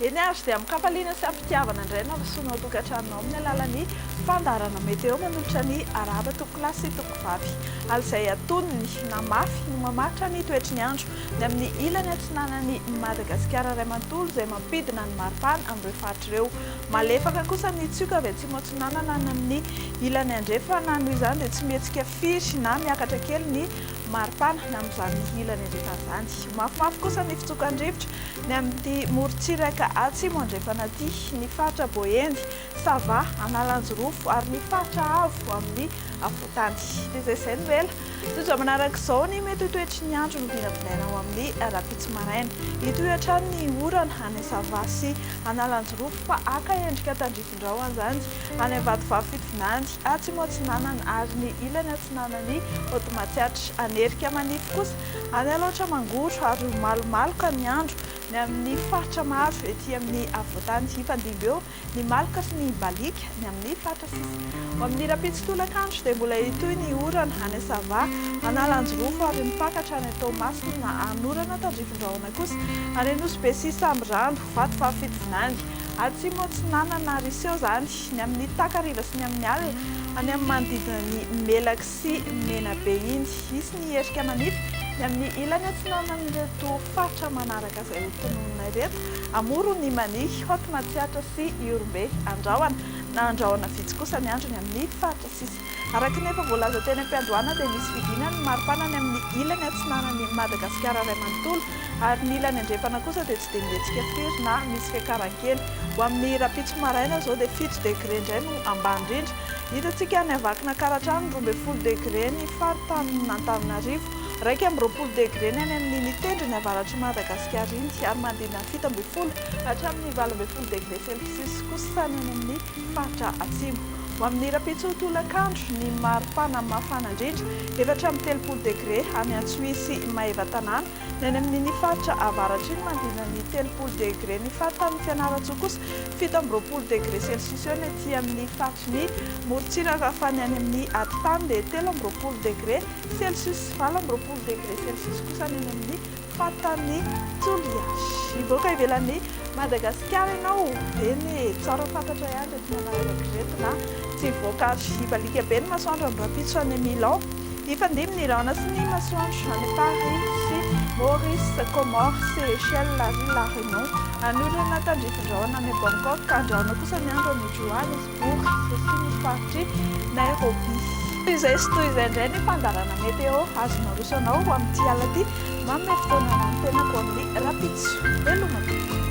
Eny ary, dia amin-kafaliana sy am-pitiavana indray no hampesona ao tokantranonao amin'ny alalan'ny fandaharana Meteo manolotra ny arahaba tompoko lahy sy tompoko vavy. Hala izay antonony, na mafy, no mamaritra ny toetry ny andro ny amin'ny ilany atsinanan'i Madagasikara iray manontolo izay mampidina ny maripana amin'ireo faritra ireo. Malefaka kosa ny tsioka avy atsimo atsinanana any amin'ny ilany andrefana, noho izany dia tsy mihetsika firy na miakatra kely ny maripana amin'izany ilany andrefana izany. Mafimafy kosa ny fitsokan-drivotra ny amin'ity morontsiraka atsimo andrefana ity, ny faritra Boeny, Sava, Analanjirofo ary ny faritra avo amin'ny afovoantany. Dia izay izay no ela Tojo manaraka izao ny mety ho toetry ny andro no vinavinaina ho amin'ny rahampitso maraina. Hitohy hatrany ny orana any Sava sy Analanjirofo fa haka endrika tandrifindrao anzany any Ambatovavy Fitovinany, Atsimo Atsinanana ary ny ilany atsinanan'i Haute Matsiatra. Hanerika manify kosa any Alaotra Mangoro ary ho malomaloka ny andro ny amin'ny faritra maro ety amin'ny afovoantany hifandimby eo ny maloka sy ny baliaka, ny amin'ny fatra, sisa Ho amin'ny rahampitso tolakandro dia mbola hitohy ny orana any Assava, Analanjirofo ary mipaka hatrany Toamasina na Anorana tandrifin-drahona kosa any Anosibe sy Sambirano, Vato fahafito vinany, Atsimo Atsinanana ary hiseho izany ny amin'ny takariva sy ny amin'ny alina any amin'ny manodidina ny Melaky sy Menabe iny. Hisy ny hierika manify ny amin'ny ilany atsinanan'ireto faritra manaraka izay ho tononina ireto. Amoro ny Mania, Haute Matsiatra sy Ihorombe, Andrahona na Andrahona vitsy kosa ny androny amin'ny faritra sisa. Araka ny efa voalaza teny am-piandohana dia misy fidina ny maripana any amin'ny ilany atsinanan'i Madagasikara iray manontolo ary ny ilany andrefana kosa dia tsy dia mihetsika firy na misy fiakarankely. Ho amin'ny rahampitso maraina izao dia fito degre indray no ambany indrindra. Hitantsika any Avakina-Karatrano roa ambin'ny folo degre ny faritanin'Antananarivo. Iraika amby roapolo degre ny any amin' iny tendrony avaratr' i Madagasikara iny, ary manodidina ny fito ambin'ny folo hatramin' ny valo ambin'ny folo degre selsiosy kosa ny any amin' ny faritra atsimo. Ho amin' ny rahampitso tolak' andro, ny mari-pana mafana indrindra, efatra amby telopolo degre, any Antsohihy sy Maevatanàna, ny any amin' iny faritra avaratr' iny manodidina ny telopolo degre, ny faritanin' i Fianarantsoa kosa fito amby roapolo degre selsiosy eo, ny aty amin' ny faritry ny morontsiraka, fa ny any amin' ny atitany dia telo amby roapolo degre. Celsius sy valo amby roapolo degre Celsius kosa ny eny amin'ny fatan'ny Toliasy. Mivoaka ivelan'i Madagasikara ianao eny e! Tsara fantatra ihany ireto manararaotra ireto na tsy voak'andro. Hibaliaka be ny masoandro andro rahampitso any amin'ny Milan. Hifandimby ny rahona sy ny masoandro any Paris sy Maurice, Comores, Seychelles ary La Réunion. Hanorina tandrifin-drahona any Bangkok ka andrahona kosa ny andro any Juan. Bourse sy ny faritry Nairobi. Toy izay sy toy izay indray ny fandaharana météo azo naroso anao ho amin'ity alina ity. Manome fotoana ho an'ny tenako amin'ny rahampitso. Veloma tompoko.